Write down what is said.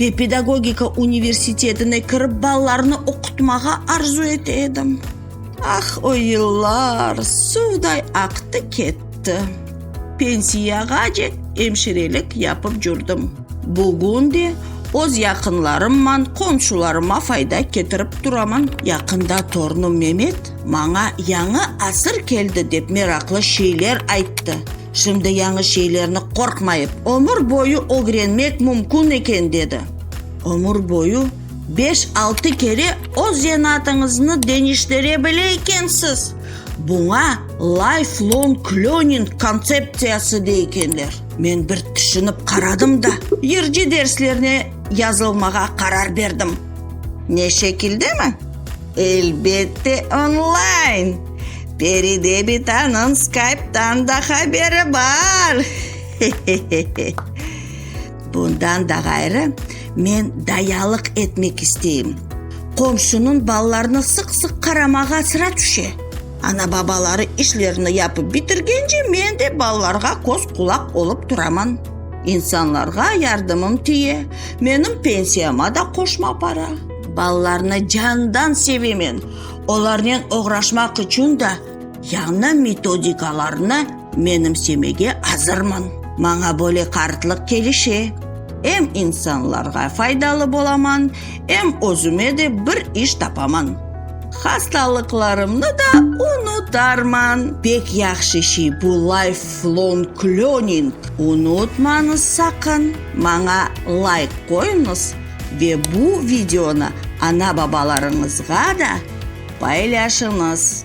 Ve pedagogika universitetine kirip balalarnı oqutmağa arzu ete edim. Ah, o yıllar suvday aqtı ketti. Pensiyağacek emşirelik yapıp cürdim. Bugün de öz yaqınlarımman, qomşularıma fayda ketirip turaman. Yaqında torunım Memet maña yañı asır keldi dep meraqlı şeyler ayttı. Şimdi yañı şeylerni qorqmayıp, ömür boyu ögrenmek mümkün eken, dedi. Ömür boyu beş-altı kere öz zenatıñıznı deñiştire bile ekensiz. Buña lifelong learning kontseptsiyası dey ekenler. Men bir tüşünip qaradım da, yırcı derslerine yazılmağa qarar berdim. Ne şekildemi? Elbette, onlayn! Peride bitanıñ Skype'dan da haberi bar! Hehehehe! Bundan da ğayrı, men dayalıq etmek isteyim. Qomşunıñ balalarına sıq-sıq qaramağa sıra tüşe. Ana-babaları işlerini yapıp bitirgence men de balalarğa köz-qulaq olıp turaman. İnsanlarğa yardımım tiye, menim pensiyama da qoşma para. Balalarnı candan sevemen. Olarnen oğraşmaq içün da yañı metodikalarnı menimsemege azırmın. Maña böyle qartlıq kelişe, em insanlarğa faydalı bolaman, em özüme de bir iş tapaman. Hastalıqlarımnı da unutarman. Pek yahşı şey bu lifelong learning. Unutmañız saqın, maña layk qoyuñız. Ve bu videonı ana-babalarıñızğa da paylaşıñız.